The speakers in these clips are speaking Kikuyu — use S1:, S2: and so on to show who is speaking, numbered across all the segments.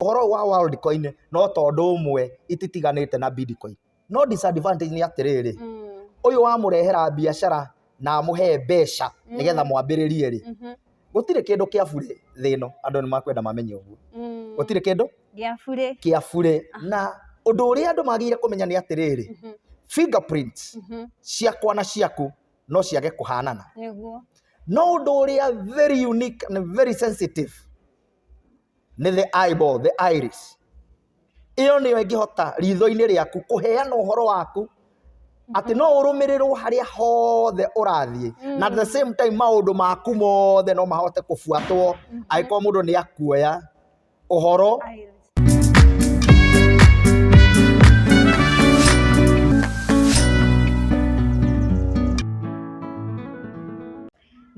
S1: ũhoro ũyũ wa world coin no tondũ ũmwe ititiganĩte na bitcoin no disadvantage nĩ atĩrĩrĩ ũyũ wamũrehera biacara na amũhe mbeca nĩgetha mwambĩrĩrie rĩ gũtirĩ kĩndũ kĩa burĩ thĩ ĩno andũ nĩ makwenda mamenye ũguo gũtirĩ kĩndũ gĩa burĩ kĩa burĩ na ũndũ ũrĩa andũ magĩrĩire kũmenya nĩ atĩrĩrĩ fingerprints ciakwa na ciaku no ciage kũhanana nĩguo no ũndũ ũrĩa very unique and very sensitive nĩ the eyeball, the iris. Ĩyo nĩyo ĩngĩhota ritho-inĩ rĩaku kũheana ũhoro waku atĩ no ũrũmĩrĩrwo harĩa hothe ũrathiĩ na at the same time maũndũ maku mothe no mahote kũbuatwo angĩkorwo mũndũ nĩ akuoya ũhoro Iris.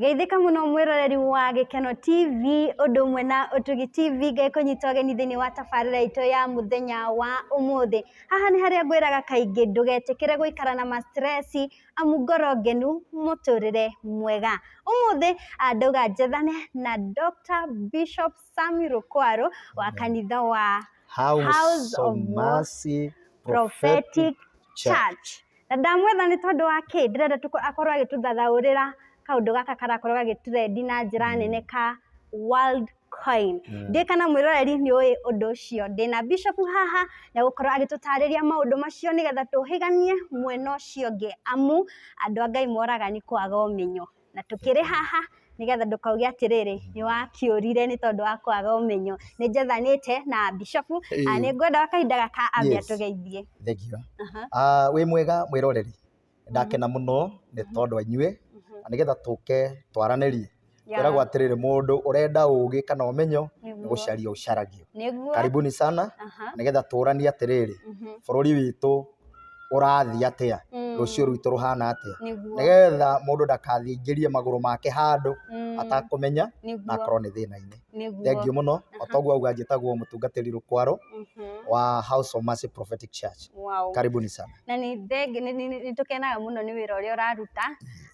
S2: Geithĩka mũno mwĩroreri wa Gĩkeno TV ũndũ ũmwe na Ũtugi TV ngĩkũnyita ũgeni thĩinĩ wa tabarĩra itũ ya mũthenya wa ũmũthĩ. Haha nĩ harĩa ngwĩraga kaingĩ ndũgetĩkĩre gũikara na ma stress amu ngoro ngenu mũtũrĩre mwega. Ũmũthĩ ndauga njethane na Doctor Bishop Sammy Rũkwarũ wa kanitha wa House of
S1: Mercy Prophetic Church. Na ndamwetha
S2: nĩ tondũ wa kĩ? Ndĩrenda akorwo agĩtũthathaũrĩra kaũndũ gaka karakorwo gagĩtrendi na njĩra mm. nene ka World Coin. Mm. Ndĩ kana mwĩroreri nĩ ũĩ ũndũ ũcio. Ndĩ na Bishop haha na gũkorwo agĩtũtarĩria maũndũ macio nĩgetha tũhĩganie mwena ũcio ũngĩ amu andũ a Ngai moraga nĩ kwaga ũmenyo. na tũkĩrĩ haha nĩgetha ndũkauge atĩrĩrĩ nĩ wakĩũrire nĩ tondũ wa kwaga ũmenyo. Nĩ njethanĩte na bishopu na nĩ ngwenda gwa kahinda gaka ambe atũgeithie. Thengiũ.
S1: Wĩ mwega mwĩroreri? Ndakena mũno nĩ tondũ wa inyuĩ na nĩgetha tũke twaranĩrie. Kwĩragwo atĩrĩrĩ mũndũ ũrenda ũgĩ kana ũmenyo nĩ gũcaria ũcaragio. Karibuni sana nĩgetha tũranie atĩrĩrĩ bũrũri witũ... ũrathiĩ atĩa, Mm. rũciũ rwitũ rũhana atĩa, Nĩguo. nĩgetha mũndũ ndakathingĩrie magũrũ make handũ Mm. atakũmenya na Nĩguo. akorwo nĩ thĩna-inĩ. Nĩguo. Thengiũ mũno, o toguo auga njĩtagwo mũtungatĩri Rũkwaro Mhm. wa House of Mercy Prophetic Church. Wow. Karibuni sana. na nĩ thengi-
S2: nĩ- nĩ- nĩ tũkenaga mũno nĩ wĩra ũrĩa ũraruta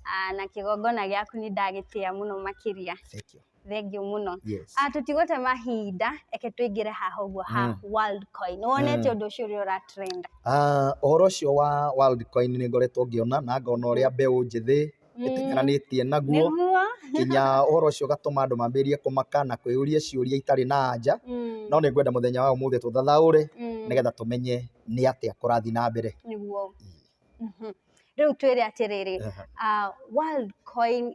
S2: ah, na kĩgongona gĩaku nĩ ndagĩtĩa mũno makĩria Thank you. Thengiũ mũno. Yes. Ah, tũtigũte mahinda, eke tũingĩre haha ũguo ha Mm. Worldcoin. Nĩwonete ũndũ ũcio ũrĩa ũratrend? Ah, ũhoro ũcio
S1: wa Worldcoin nĩ ngoretwo ngĩona na ngona ũrĩa mbeũ njĩthĩ Mm. ĩtinyananĩtie naguo Nĩguo. nginya ũhoro ũcio ũgatũma andũ mambĩrĩrie kũmaka na kwĩyũria ciũria itarĩ na anja Mm, no nĩ ngwenda mũthenya wa ũmũthĩ tũthathaũre mm, nĩgetha tũmenye nĩ atĩa kũrathiĩ na mbere nĩguo.
S2: Rĩu twĩre atĩrĩrĩ, World Coin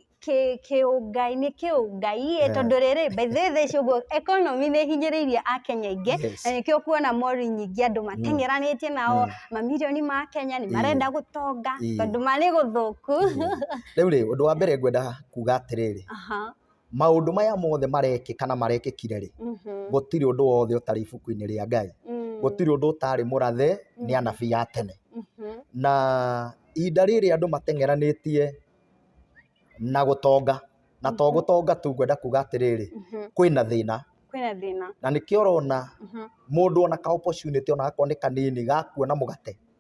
S2: kĩũngai-inĩ kĩũngai-ĩ, tondũ rĩrĩ, by the way thaa ici ũguo economy nĩ ĩhinyĩrĩirie akenya aingĩ, na nĩkĩo ũkuona mori nyingĩ andũ mateng'eranĩtie nao, mamirioni ma akenya nĩ marenda gũtonga, tondũ ma nĩ gũthũku. Rĩu-rĩ,
S1: ũndũ wa mbere ngwenda kuga atĩrĩrĩ, maũndũ maya mothe marekĩka na marekĩkire rĩ Mhm. gũtirĩ ũndũ wothe ũtarĩ ibuku-inĩ rĩa ngai Mm. gũtirĩ ũndũ ũtarĩ mũrathe nĩ anabii a tene Mhm. na ihinda rĩrĩ andũ mateng'eranĩtie na gũtonga na to Mhm. gũtonga tu ngwenda kuga atĩrĩrĩ Mhm. kwĩna thĩna kwĩna thĩna na nĩkĩo ũrona Mhm. mũndũ ona ka opportunity ona gakorwo nĩ kanini ga kuona mũgate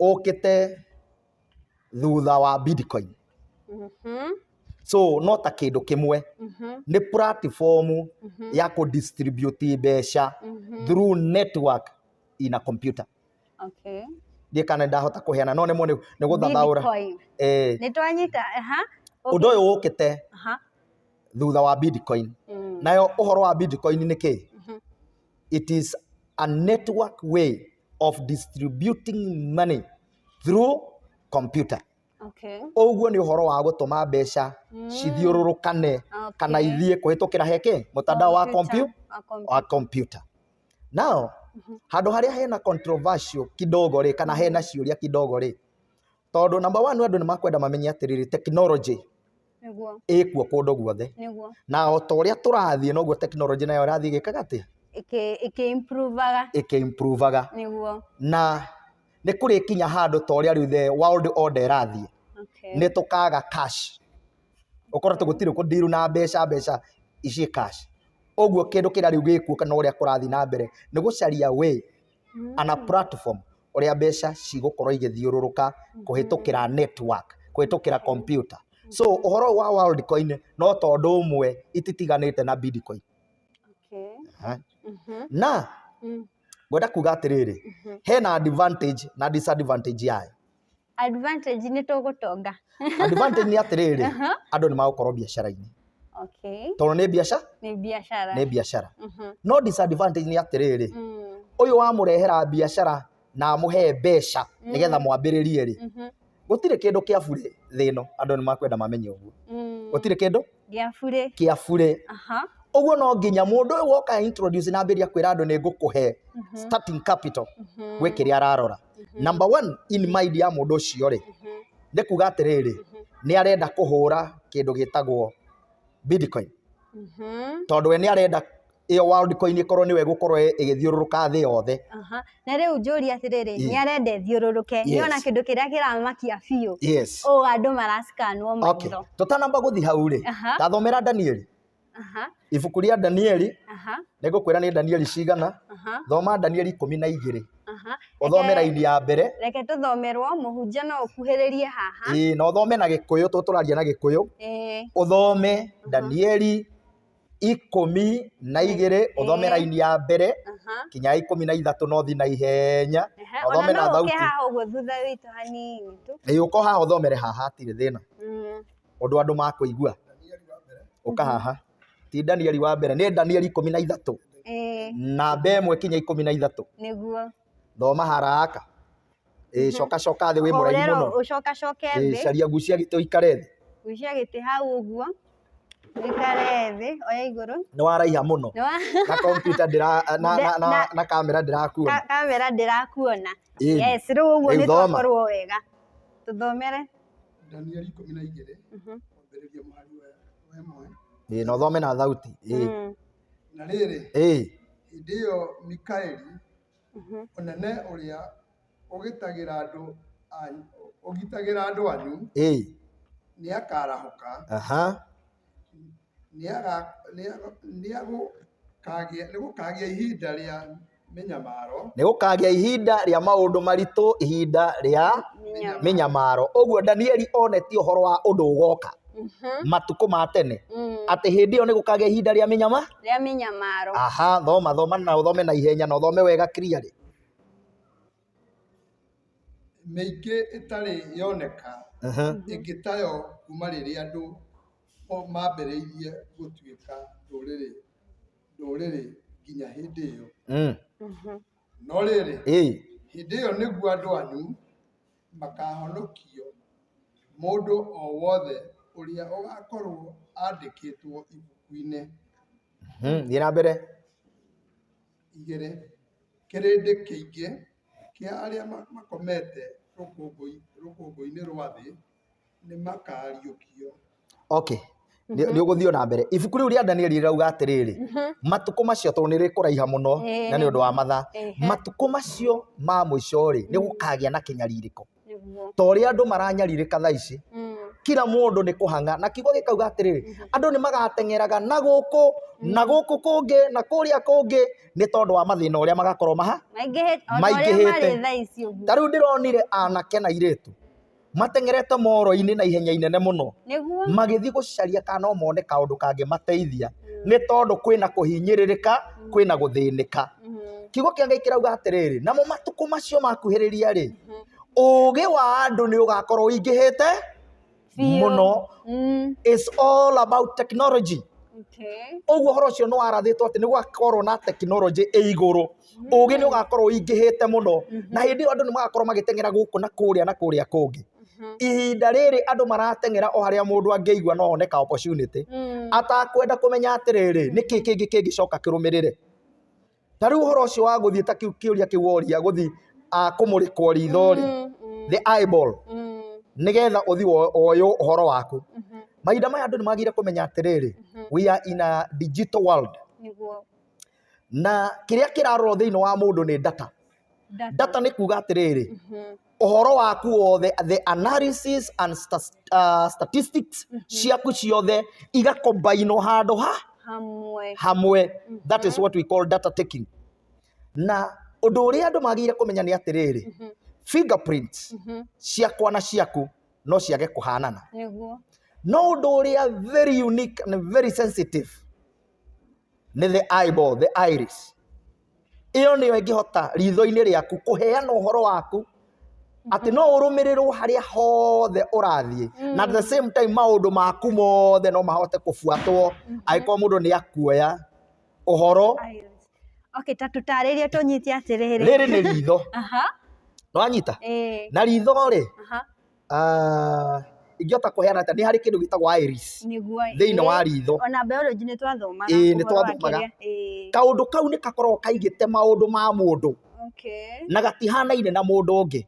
S1: ũkĩte thutha wa Bitcoin Mhm. so no ta kĩndũ kĩmwe Mhm. nĩ platform Mhm. ya kũ distribute mbeca Mhm. through network in a computer Okay. ndiĩ kana ndahota kũheana no nĩmo nĩ nĩ gũthathaũra Bitcoin. eh, Nĩ
S2: twanyita, aha. Okay. ũndũ ũyũ
S1: ũkĩte Aha. thutha wa Bitcoin Mm. nayo ũhoro wa Bitcoin nĩ kĩ Mhm. it is a network way of distributing money through computer Okay. ũguo nĩ ũhoro wa gũtũma mbeca cithiũrũrũkane Okay. kana ithiĩ kũhĩtũkĩra heke mũtandao wa Computer. kompiu- Wa computer. wa kompyuta nao handå harä a hena controversial kidogo rä kana hena ciå ria kidogo rä tondå namba one andå nä makwenda mamenye atä rä rä tekinoronjä nĩguo ĩkuo kũndũ guothe nĩguo na o ta ũrĩa tũrathiĩ noguo tekinoronjĩ nayo ĩrathiĩ ĩgĩkaga atĩ ĩkĩ ĩkĩ improvaga ĩkĩ improvaga nĩguo na nĩ kũrĩkinya handũ ta ũrĩa rĩu the world order ĩrathiĩ okay nĩ tũkaga cash ũkorwo atĩ gũtirĩ kũndiru na mbeca mbeca ici cash ũguo kĩndũ kĩrĩa rĩu gĩkuo kana ũrĩa kũrathiĩ na mbere nĩ gũcaria way on a platform ũrĩa mbeca cigũkorwo igĩthiũrũrũka kũhĩtũkĩra network, kũhĩtũkĩra kompiuta. So ũhoro ũyũ wa Worldcoin no ta ũndũ ũmwe ititiganĩte na Bitcoin. Okay. Aha. Mhm. Na Mm. ngwenda kuga atĩrĩrĩ, Mhm. hena advantage na disadvantage yayo. Advantage
S2: nĩ tũgũtonga. Advantage nĩ
S1: atĩrĩrĩ, Aha. andũ nĩ magũkorwo biacara-inĩ. Okay. Tondũ nĩ biacara, Nĩ biacara. nĩ biacara. Mhm. No disadvantage nĩ atĩrĩrĩ, Mm. ũyũ wamũrehera biacara na amũhe mbeca nĩgetha mwambĩrĩrie rĩ, Mhm. gũtirĩ kĩndũ kĩa burĩ thĩ ĩno, andũ nĩ makwenda mamenye ũguo. Mm. Gũtirĩ kĩndũ Gĩa burĩ. kĩa burĩ. Aha. Ũguo no nginya mũndũ ũyũ woka introduce na ambĩrĩria kwĩra andũ nĩ ngũkũhe starting capital gwĩ kĩrĩa ararora. namba one in mind ya mũndũ ũcio rĩ nĩ kuga atĩrĩrĩ nĩ arenda kũhũra kĩndũ gĩtagwo bitcoin tondũ we nĩ arenda ĩyo world coin ĩkorwo nĩwe gũkorwo ĩ- ĩgĩthiũrũrũka thĩ yothe Aha. na rĩu njũria
S2: atĩrĩrĩ nĩ arenda ĩthiũrũrũke nĩ Yes. ona kĩndũ kĩrĩa kĩramakia biũ yes ũũ andũ marasikanwo okay maitho tũtanamba gũthiĩ hau
S1: rĩ Aha. tathomera danieli Aha, ibuku rĩa danieli aha, nĩngũkwĩra nĩ danieli cigana aha, thoma danieli ikũmi na igĩrĩ aha. ũthome raini ya mbere Reke tũthomerwo,
S2: mũhunjia no ũkuhĩrĩrie haha. ĩĩ na ũthome na gĩkũyũ
S1: tondũ tũraria na gĩkũyũ Ĩĩ, ũthome danieli ikũmi na igĩrĩ ũthome Ĩĩ. raini ya mbere aha. kinya ya ikũmi na ithatũ no thi na ihenya Ehe, na ũthome ona na no ũke thauti haha ũguo thutha witũ
S2: hanini tu. ĩĩ ũko haha ũthomere
S1: haha hatirĩ thĩna Mm. ũndũ andũ makũigua ũka haha ti danieli wa mbere nĩ danieli ikũmi na ithatũ eh, namba ĩmwe kinya ikũmi na ithatũ nĩguo
S2: thoma haraka
S1: ĩĩ coka coka thĩ wĩ mũraihu Hũrĩra mũno ũcoka coke Ĩĩ, thĩ
S2: caria gucia gĩtĩ ũikare
S1: thĩ gucia gĩtĩ hau
S2: ũguo wĩkare thĩ oya igũrũ nĩ waraiha mũno
S1: Nĩ wa- na kompiuta ndĩra na, na, na, Na- na kamera ndĩrakuona Ka- kamera ndĩrakuona Ĩĩ. yes rĩu ũguo Rĩu nĩ thoma. twakorwo wega tũthomere Danieli
S3: ikũmi na igĩrĩ Mhm. kwambĩrĩria mũhari wa wa ĩmwe ĩĩ na ũthome na thauti
S1: ĩĩ Mm. na
S3: rĩrĩ ĩĩ hĩndĩ ĩyo mikaeli Mhm. ũnene ũrĩa ũgitagĩra andũ anyu ũgitagĩra andũ anyu ĩĩ nĩakarahũka aha Nĩgũkagĩa ihinda rĩa mĩnyamaro. Nĩgũkagĩa
S1: ihinda rĩa maũndũ maritũ, ihinda rĩa mĩnyamaro. Ũguo Danieli onetie ũhoro wa ũndũ ũgoka matukũ ma tene, atĩ hĩndĩ ĩyo nĩgũkagĩa ihinda rĩa mĩnyama. Rĩa mĩnyamaro.
S2: Aha, thoma
S1: thoma na ũthome na ihenya na ũthome wega clearly.
S3: mĩingĩ ĩtarĩ yoneka ĩngĩ tayo kuma rĩrĩa andũ mambĩrĩirie gũtuĩka ndũrĩrĩ ndũrĩrĩ nginya hĩndĩ ĩyo. No rĩrĩ, hĩndĩ ĩyo nĩguo andũ anyu makahonokio, mũndũ o wothe ũrĩa ũgakorwo andĩkĩtwo ibuku-inĩ.
S1: Thiĩ na mbere.
S3: igĩrĩ, kĩrĩndĩ kĩingĩ kĩa arĩa makomete rũkũngũ-inĩ rwa thĩ nĩ makaariũkio. Okay.
S1: Nĩ mhm. ũgũthiĩ na mbere ibuku rĩu rĩa Danieli rĩrauga atĩrĩrĩ mhm. matukũ macio tondũ nĩ rĩkũraiha mũno na nĩ ũndũ wa mathaa matukũ macio ma mũico rĩ nĩ gũkagĩa na kĩnyarirĩko Nĩguo. ta ũrĩa andũ maranyarirĩka tha ici Mm. kira mũndũ nĩ kũhang'a na kiugo gĩkauga atĩrĩrĩ andũ nĩ magateng'eraga na gũkũ na gũkũ kũngĩ na kũrĩa kũngĩ nĩ tondũ wa mathĩna ũrĩa magakorwo maha Maingĩhĩte. o ta ũrĩa Maingĩhĩte. marĩ thaa ici ũguo. ta rĩu ndĩronire anake na irĩtu mateng'erete moro-inĩ na ihenya inene mũno Nĩguo. magĩthiĩ gũcaria kana no mone kaũndũ kangĩmateithia nĩ tondũ kwĩna kũhinyĩrĩrĩka kwĩna gũthĩnĩka Mhm. kiugo kĩa ngai kĩrauga atĩrĩrĩ namo matukũ macio makuhĩrĩria rĩ ũũgĩ wa andũ nĩ ũgakorwo ũingĩhĩte Biũ. mũno Mm, is all about technology okay. ũguo ũhoro ũcio nĩ warathĩtwo atĩ nĩ gũgakorwo na tekinoronjĩ ĩ igũrũ ũũgĩ nĩ ũgakorwo ũingĩhĩte mũno na hĩndĩ ĩyo andũ nĩ magakorwo magĩteng'era gũkũ na kũrĩa na kũrĩa kũngĩ Mhm. ihinda rĩrĩ andũ marateng'era o harĩa mũndũ angĩigua no one ka opportunity Mm, atakwenda kũmenya atĩrĩrĩ nĩkĩ kĩngĩ kĩngĩcoka kĩrũmĩrĩre Ta rĩu ũhoro ũcio wa gũthiĩ ta kĩu kĩũria kĩu woria gũthiĩ ah, kũmũrĩkwo ritho rĩ the eyeball nĩgetha ũthiĩ wo- woywo ũhoro waku mahinda maya andũ nĩ magĩrĩire kũmenya atĩrĩrĩ we are in a digital world nĩguo na kĩrĩa kĩrarorwo thĩinĩ wa mũndũ nĩ data data nĩ kuga atĩrĩrĩ ũhoro waku wothe the analysis and sta, uh, statistics ciaku ciothe igakombainwo handũ ha hamwe hamwe that is what we call data taking na ũndũ ũrĩa andũ magĩrĩire kũmenya nĩ atĩrĩrĩ fingerprints ciakwa na ciaku no ciage kũhanana nĩguo no ũndũ ũrĩa very unique and very sensitive nĩ the eyeball, the iris. Ĩyo nĩyo ĩngĩhota ritho-inĩ rĩaku kũheana ũhoro waku atĩ no ũrũmĩrĩrwo harĩa hothe ũrathiĩ na at the same time maũndũ maku mothe no mahote kũbuatwo angĩkorwo mũndũ nĩ akuoya ũhoro Iris.
S2: Okay, ta tũtarĩrie tũnyite atĩrĩrĩ. rĩrĩ nĩ ritho
S1: Aha. nĩwanyita Ĩĩ. na ritho-rĩ Aha. Ah, ingĩhota kũheana atĩa nĩ harĩ kĩndũ gĩtagwo iris nĩguo thĩinĩ wa ritho ona biology nĩ
S2: twathomaga Ĩĩ, nĩ ũhoro wa twathomaga. kĩrĩa.
S1: Ĩĩ, kaũndũ kau nĩ gakoragwo kaigĩte maũndũ ma mũndũ okay. na gatihanaine na mũndũ ũngĩ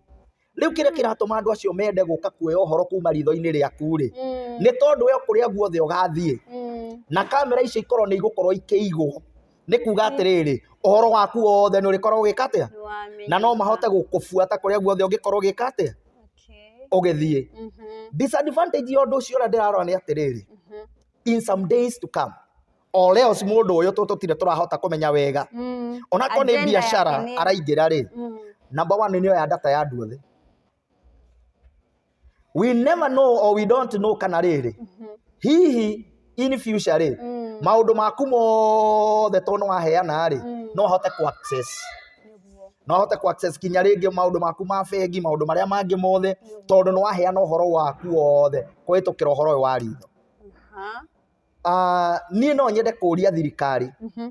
S1: rĩu kĩrĩa kĩratũma andũ acio mende gũka kuoya ũhoro kuma ritho-inĩ rĩaku rĩ Mm, nĩ tondũ we kũrĩa guothe ũgathiĩ mm, na kamera icio ikorwo nĩ igũkorwo ikĩigwo nĩ kuuga atĩrĩrĩ ũhoro waku wothe nĩ ũrĩkorwo ũgĩka atĩa na no mahote gũkũbuata kũrĩa guothe ũngĩkorwo ũgĩka atĩa ũgĩthiĩ mhm. disadvantage ya ũndũ ũcio ũrĩa ndĩrarora nĩ atĩrĩrĩ mhm. in some days to come or else mũndũ ũyũ tũtire tũrahota kũmenya wega mm. onakorwo nĩ biacara araingĩra rĩ mm. number one nĩ oya data ya andũ othe we never know or we don't know kana rĩrĩ hihi in future rĩ Mm. maũndũ maku mothe to nĩ waheana rĩ Mm. no ahote ku access Nĩguo. no ahote ku access kinya rĩngĩ maũndũ maku ma bengi maũndũ marĩa mangĩ mothe tondũ nĩ waheana ũhoro waku wothe kũhĩtũkĩra ũhoro ũyũ wa ritho Aha. Ah, niĩ no nyende kũria thirikari Mhm.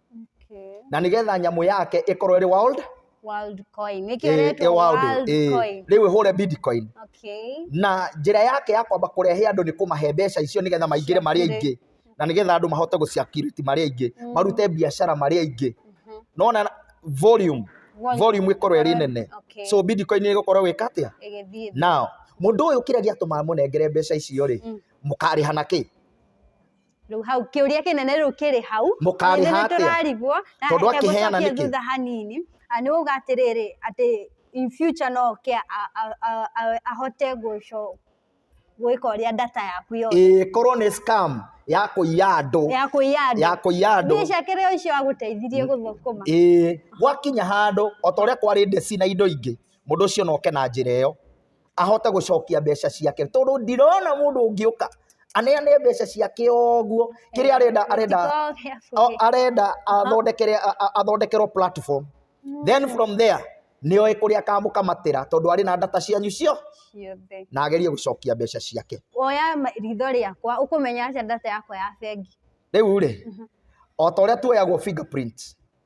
S1: Okay. na nigetha nyamå yake ĩkorwo ĩrĩ world World coin.
S2: Nĩkĩo ĩ- ĩretwo ĩ world, world ĩ. coin. rĩu ĩhũre bitcoin
S1: Okay. na njĩra yake ya kwamba kũrehe andũ nĩ kũmahe mbeca icio nĩgetha maingĩre marĩ Circulate. aingĩ na nĩgetha andũ mahote gũciakiriti marĩ aingĩ Mm. marute biacara marĩ aingĩ Mhm. nona volume Volume. volume ĩkorwo ĩrĩ nene Okay. so bitcoin ĩgũkorwo wĩka atĩa Ĩgĩthiĩ thĩ. now mũndũ ũyũ kĩrĩa gĩatũma mũnengere mbeca icio rĩ Mm. mũkarĩha na kĩ rä
S2: u hau kä å ria kä nene rä u kä rä hau Mũkarĩha Nĩ atĩa?
S1: tũrarigwo na Tondũ reke
S2: akĩheana gũcokie
S1: nĩkĩ? thutha hanini
S2: Ah, nĩ uga atä rä rä atä in future no ke a- a- a- a- ahote gwä ka å rä a data yaku yothe ĩĩ korwo nĩ scam
S1: ya kũiya andũ ya kå iya andũ ya kũiya andũ mbia ciake rä o icio
S2: agũteithirie gũthũkũma ĩĩ gwakinya
S1: handũ o ta ũrĩa kwarĩ ndeci na indo ingĩ mũndũ ũcio noke na njĩra ĩyo ahote gũcokia mbeca ciake tondũ ndirona mũndũ ũngĩũka aneane mbeca ciake ũguo kĩrĩa arenda arenda o- arenda athondekere a- a- athondekerwo platform then from there nĩoĩ kũrĩa akamũkamatĩra tondũ arĩ na ndata cianyu cio ciothe na agerie gũcokia mbeca ciake woya ma- ritho
S2: rĩakwa ũkũmenya atĩa ndata yakwa ya bengi rĩu rĩ
S1: o ta ũrĩa tuoyagwo fingerprint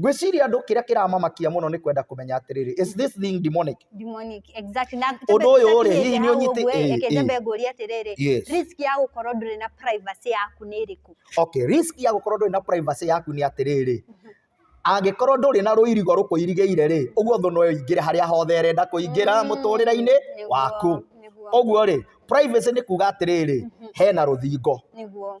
S1: ngwĩciria andũ kĩrĩa kĩramamakia mũno nĩ kwenda kũmenya atĩrĩrĩ is this thing demonic demonic exactly
S2: na Ũndũ ũyũ rĩ, tũkinyĩte hihi nĩ
S1: hau ũnyitĩ- ũguo, ĩ, reke ĩ. nyambe ngũrie
S2: atĩrĩrĩ Yes. risk ya gũkorwo ndũrĩ na privacy yaku nĩ ĩrĩkũ okay risk ya gũkorwo
S1: ndũrĩ na privacy yaku nĩ atĩrĩrĩ angĩkorwo ndũrĩ na rũirigo rũkũirigĩire rĩ ũguo thũ no ĩingĩre harĩa hothe ĩrenda kũingĩra Mm, mũtũrĩre-inĩ nĩguo, waku nĩguo, ũguo rĩ privacy nĩ kuga atĩrĩrĩ hena rũthingo nĩguo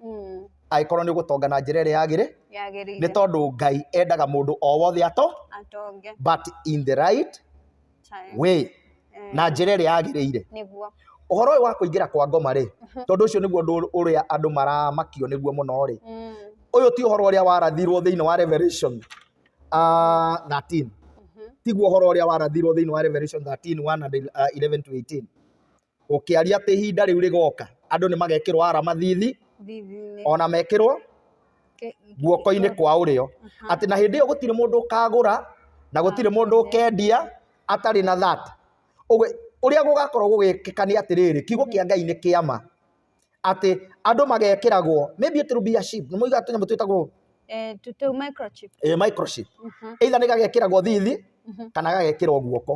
S1: Mm. agĩkorwo nĩ ũgũtonga na njĩra ĩrĩa yagĩrĩ nĩ Yagĩrĩire. tondũ ngai endaga mũndũ o wothe ato Atonge. but in the right Time. way Eh, na njĩra ĩrĩa yagĩrĩire Nĩguo. ũhoro ũyũ wa kũingĩra kwa ngoma rĩ tondũ ũcio nĩguo ũndũ ũrĩa andũ maramakio nĩguo mũno rĩ Mm. ũyũ ti ũhoro ũrĩa warathirwo thĩinĩ wa revelation uh, 13 Mhm. tiguo ũhoro ũrĩa warathirwo thĩinĩ wa revelation 13 1 and, uh, 11 to 18 Gũkĩaria atĩ ihinda rĩu rĩgooka, andũ nĩ magekĩrwo arama thiithi, thithi-inĩ o na mekĩrwo ke- guoko-inĩ kwa ũrĩo, Aha. atĩ na hĩndĩ ĩyo gũtirĩ mũndũ ũkagũra na gũtirĩ mũndũ ũkendia atarĩ na that. Ũguo ũrĩa gũgakorwo gũgĩkĩka nĩ atĩrĩrĩ, kiugo kĩa Ngai nĩ kĩa ma, atĩ andũ magekĩragwo maybe it will be a sheep, nĩ mũigaga tũnyamũ twĩtagwo Eh, tũ- tũ
S2: microchip. eh, microchip
S1: Mhm, either nĩ gagekĩragwo thiithi mhm. kana gagekĩrwo guoko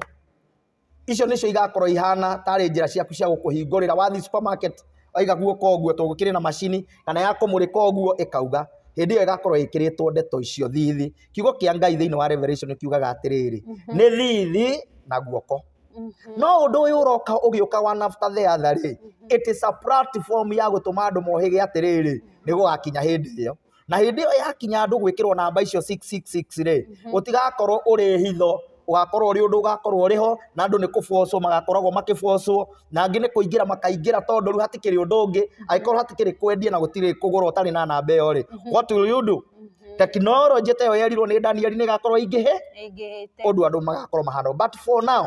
S1: icio nĩcio igakorwo ihana tarĩ njĩra ciaku cia gũkũhingũrĩra wathiĩ supermarket waiga guoko ũguo tondũ gũkĩrĩ na macini kana ya kũmũrĩka ũguo ĩkauga hĩndĩ ĩyo ĩgakorwo ĩkĩrĩtwo ndeto icio thithi kiugo kĩa ngai thĩinĩ wa revelation kiugaga atĩrĩrĩ nĩ thithi na guoko no ũndũ ũyũ ũroka ũgĩũka wa nafta theatha rĩ it is a platform ya gũtũma andũ mohĩge atĩrĩrĩ nĩ gũgakinya hĩndĩ ĩyo na hĩndĩ ĩyo yakinya andũ gwĩkĩrwo namba icio 666 rĩ mhm. ũtigakorwo ũrĩ hitho ũgakorwo ũrĩ ũndũ ũgakorwo ũrĩ ho na andũ nĩ kũbocwo magakoragwo makĩbocwo na angĩ nĩ kũingĩra makaingĩra tondũ rĩu hatikĩrĩ ũndũ ũngĩ mhm. angĩkorwo hatikĩrĩ kwendia na gũtirĩ kũgũra ũtarĩ na namba ĩyo rĩ mhm. what will you do tekinoronjĩ ta ĩyo yerirwo nĩ danieli nĩ ĩgakorwo ingĩhe ũndũ andũ magakorwo mahana but for now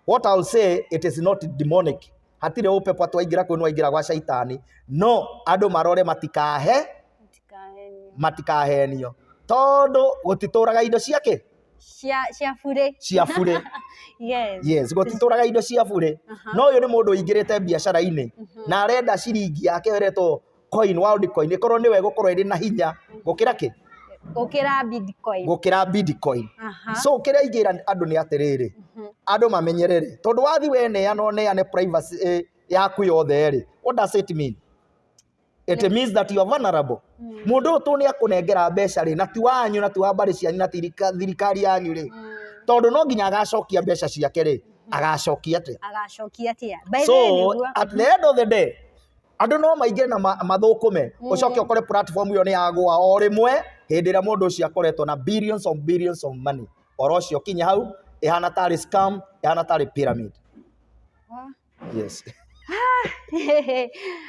S1: what I'll say it is not demonic hatirĩ ũpepo atwaingĩra kuo nwaingĩra gwa caitani no andũ marore matikahe Ndikahenio. matikahenio tondũ gũtitũraga indo cia kĩ Cia cia burĩ. cia burĩ Yes. yes gũtitũraga indo cia burĩ Aha. no ũyũ nĩ mũndũ ũingĩrĩte biacara-inĩ Mhm. na arenda ciringi yake ĩretwo coin world coin ĩkorwo nĩwe gũkorwo ĩrĩ na hinya gũkĩra kĩ gũkĩra bitcoin gũkĩra bitcoin Aha. so kĩrĩa ingĩra andũ nĩ atĩrĩrĩ Mhm. andũ mamenyere rĩ tondũ wathi we neana neane privacy eh, yaku yothe rĩ what does it mean it means that you are vulnerable Mm. mũndũ ũyũ tũ nĩ akũnengera mbeca rĩ na ti wanyu na ti wa mbarĩ cianyu na ti thirika- thirikari yanyu rĩ Mm. tondũ no nginya agacokia mbeca ciake rĩ agacokia atĩa agacokia atĩa By the way, so nĩguo. at the end of the day andũ no maingĩ na ma- mathũkũme Mm. ũcoke ũkore platform ĩyo nĩ yagwa o rĩmwe hĩndĩ ĩrĩa mũndũ ũcio akoretwo na billions of billions of money oro ũcio kinya hau ĩhana tarĩ scam ĩhana tarĩ pyramid yes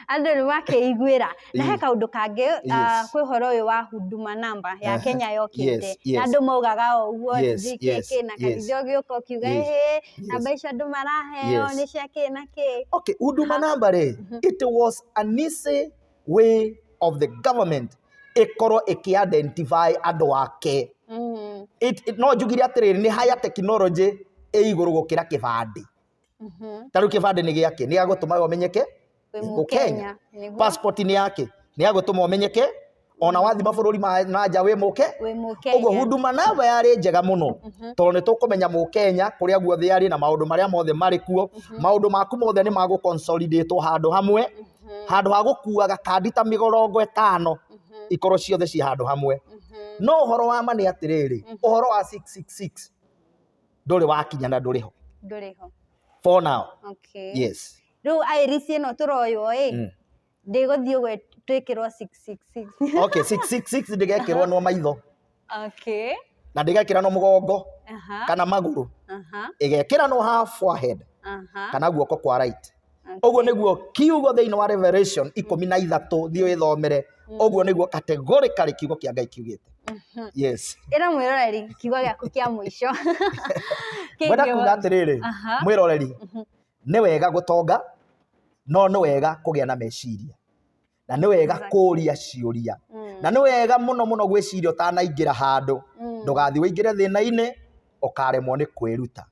S2: andå nä makeiguä ra na he Mm. kaå ndå kangä ah, Yes. kwä horo å yå wa huduma namba ya Aha. kenya yokite Yes, na yes. andå maugaga o å guo Yes, yes, yes. na karithio gä å ka å kiuga Yes. ä namba icio andũ maraheo nĩ cia kĩ na kĩ. Okay, Huduma namba
S1: rĩ, it was an easy way of the government ĩkorwo ĩkĩ identify andũ ake. Mm. No njugire atĩrĩrĩ nĩ higher technology ĩ igũrũ gũkĩra kĩbandĩ. Mm-hmm. Ta rĩu kĩbandĩ nĩ gĩakĩ, nĩ gĩa gũtũmaga ũmenyeke wĩ Nĩ Mũkenya. Mũkenya nĩguo passport nĩ yake nĩ ya gũtũma ũmenyeke ona wathi mabũrũri ma na nja wĩ mũke wĩ ũguo Mũkenya huduma namba yarĩ njega mũno tondũ nĩ tũkũmenya mũkenya kũrĩa guothe arĩ na maũndũ marĩa mothe marĩ kuo maũndũ maku mothe nĩ magũ consolidate handũ hamwe handũ ha gũkuaga kandi ta mĩgorongo ĩtano ikorwo ciothe ci handũ hamwe no ũhoro wa ma nĩ atĩrĩrĩ ũhoro wa 666 ndũrĩ wakinya na ndũrĩ ho ndũrĩ ho for now okay yes
S2: rĩu
S1: airisi ĩno
S2: tũroywo ĩ Mm. ndĩgũthiĩ ũguo twĩkĩrwo 666 okay 666
S1: ndĩgekĩrwo no maitho okay
S2: na ndĩgekĩra
S1: no mũgongo aha kana magũrũ aha ĩgekĩra no half forehead aha kana guoko kwa right Okay. ũguo nĩguo kiugo thĩinĩ wa revelation ikũmi na ithatũ thiĩ wĩthomere ũguo nĩguo kategorĩkarĩ kiugo kĩa ngai kiugĩte Mhm. yes ĩra mwĩroreri
S2: kiugo gĩaku kĩa mũico Kĩgiĩ
S1: mwenda kuga wa- atĩrĩrĩ Aha. mwĩroreri Mhm. Nĩ wega gũtonga, no nĩ wega kũgĩa na meciria. Na nĩ wega kũũria ciũria. Na nĩ wega mũno mũno gwĩciria ũtanaingĩra handũ. Ndũgathiĩ ũingĩre thĩna-inĩ, ũkaremwo nĩ kwĩruta.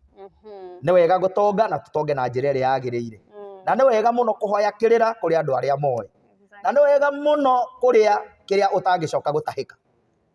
S1: Nĩ wega gũtonga na tũtonge na njĩra ĩrĩa yagĩrĩire. Na nĩ wega mũno kũhoya kĩrĩra kũrĩ andũ arĩa moĩ. Na nĩ wega mũno kũrĩa kĩrĩa ũtangĩcoka gũtahĩka.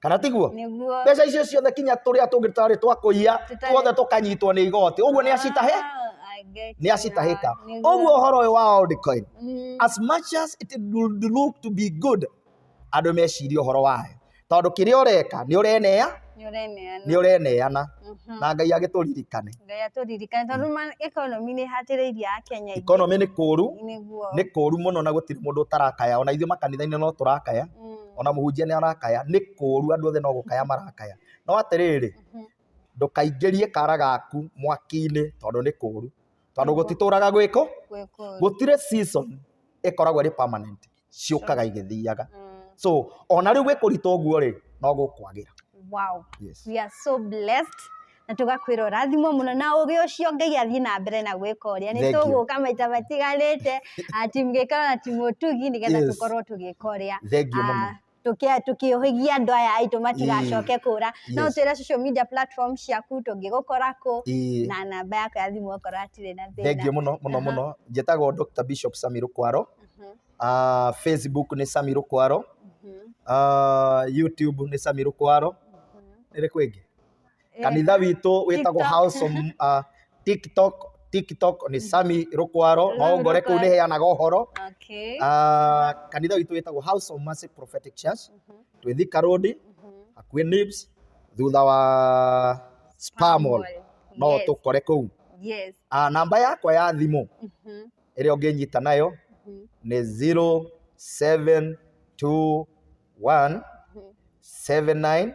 S1: kana tiguo nĩguo mbeca icio ciothe
S2: kinya
S1: tũrĩa tũngĩ tũtarĩ twa kũiya Tũtarĩ- tuothe tũkanyitwo nĩ igoti ũguo nĩ acitahe Ah, I get nĩ you. acitahĩka Nĩguo. ũguo ũhoro ũyũ wa old coin Mm, as much as it would look to be good andũ meciria ũhoro wayo tondũ kĩrĩa ũreka nĩ ũreneya nĩũreneana. nĩ ũreneana Mhm. na ngai agĩtũririkane ngai atũririkane
S2: tondũ ma- economy nĩ ĩhatĩrĩirie ya kenya aingĩ. ikonomĩ nĩ kũũru
S1: nĩguo nĩ kũũru mũno na gũtirĩ mũndũ ũtarakaya ona ithuĩ makanitha-inĩ no tũrakaya Mm. ona mũhunjia nĩ arakaya nĩ kũũru andũ othe no gũkaya marakaya no atĩrĩrĩ Mhm. ndũkaingĩrie kara gaku mwaki-inĩ tondũ nĩ kũũru tondũ gũtitũraga gwĩkũ Gwĩ kũũru. gũtirĩ season ĩkoragwo ĩrĩ permanent ciũkaga igĩthiaga Mm. so ona rĩu gwĩkũritũ ũguo rĩ no gũkwagĩra Wow. yes.
S2: We are so blessed. na tũgakwĩra ũrathimwo mũno na ũgĩ ũcio ngai athiĩ na mbere na gwĩka ũrĩa nĩ Thank you. tũgũka maita matigarĩte ah, timu gĩkaro na timu ũtugi nĩgetha Yes. tũkorwo tũgĩka ũrĩa Thank you, mama. ah, tũkĩ- tũkĩũhĩgia andũ aya aitũ matigacoke kũra no Yes. twĩre social media platform ciaku tũngĩgũkora kũ Ĩĩ. na namba yako ya thimũ okorwo hatirĩ na thĩna thengiå må no må no Aha. må no
S1: njätagwo dr bishop sami rå kwaro Mhm, Ah, facebook nä sami rå kwaro mhm, Ah, youtube nä sami rå kwaro mhm. nä rä kwä ngä kanitha witũ wĩtagwo house of uh, tiktok tiktok nĩ sami rũkwaro no ngore kũu nĩ heanaga ũhoro Okay.
S2: Ah, kanitha
S1: witũ wĩtagwo house of mercy prophetic church twĩ thika road hakuhĩ nibs thutha wa spamol no Yes. tũkore kũu Yes. Ah, namba
S2: yakwa ya
S1: thimũ Mhm. ĩrĩa ũngĩnyita nayo Mhm. nĩ 0721 79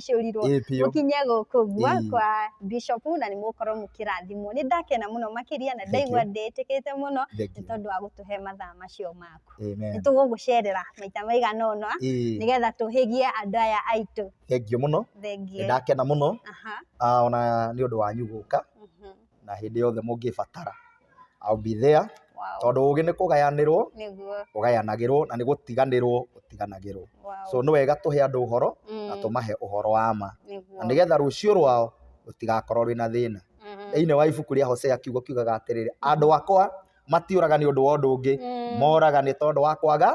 S2: mũkĩcũrirwo Ĩĩ biũ. mũkinye gũkũ Ĩĩ. gwakwa Bishop na nĩ mũgũkorwo mũkĩrathimwo. Nĩ ndakena mũno makĩria na ndaigua Thank ndĩĩtĩkĩte mũno nĩ Thank you. tondũ wa gũtũhe mathaa macio maku. Nĩ Amen. tũgũgũcerera maita maigana ũna Ĩĩ, nĩgetha tũhĩgie andũ aya aitũ. thengiũ mũno nĩ
S1: Thengiũ. ndakena mũno Aha. ah, ona nĩ ũndũ wanyu gũka Mhm. na hĩndĩ yothe mũngĩbatara I'll be there tondũ ũgĩ nĩ kũgayanĩrwo ũgayanagĩrwo na nĩ gũtiganĩrwo ũtiganagĩrwo so nĩ wega tũhe andũ ũhoro na tũmahe ũhoro wa ma na nĩgetha rũciũ rwao rũtigakorwo rwĩna thĩna. Thĩinĩ wa ibuku rĩa Hosea kiugo kiugaga atĩrĩrĩ, andũ akwa... matiũraga nĩ ũndũ wa ũndũ ũngĩ Mm. moraga nĩ tondũ wa kwaga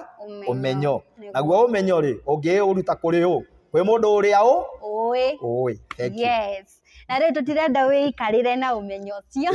S1: ũmenyo Nĩguo. naguo ũmenyo rĩ ũngĩũruta kũrĩ ũ kwĩ mũndũ ũrĩa ũ Ũĩ. ũĩ Thank you. Yes.
S2: Na rĩu tũtirenda wĩikarĩre na ũmenyo ũcio.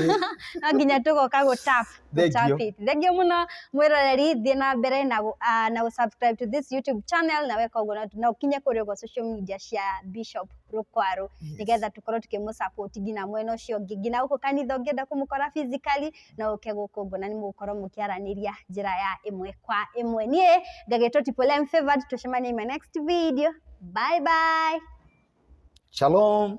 S2: No nginya tũgoka gũ tap. gũ Thank tap you. it. Thengiũ mũno mwĩroreri thiĩ na mbere na gũ- ah, na gũ subscribe to this YouTube channel na weka ũguo na- na ũkinye kũrĩ ũguo social media cia Bishop Rũkwarũ nĩgetha tũkorwo tũkĩmũ support nginya mwena ũcio ũngĩ nginya gũkũ kanitha ũngĩenda kũmũkora physically no ũke gũkũ ngona nĩ mũgũkorwo mũkĩaranĩria njĩra ya ĩmwe kwa ĩmwe niĩ ngagĩtwo tipolem favored tũcemanie in my next video bye bye shalom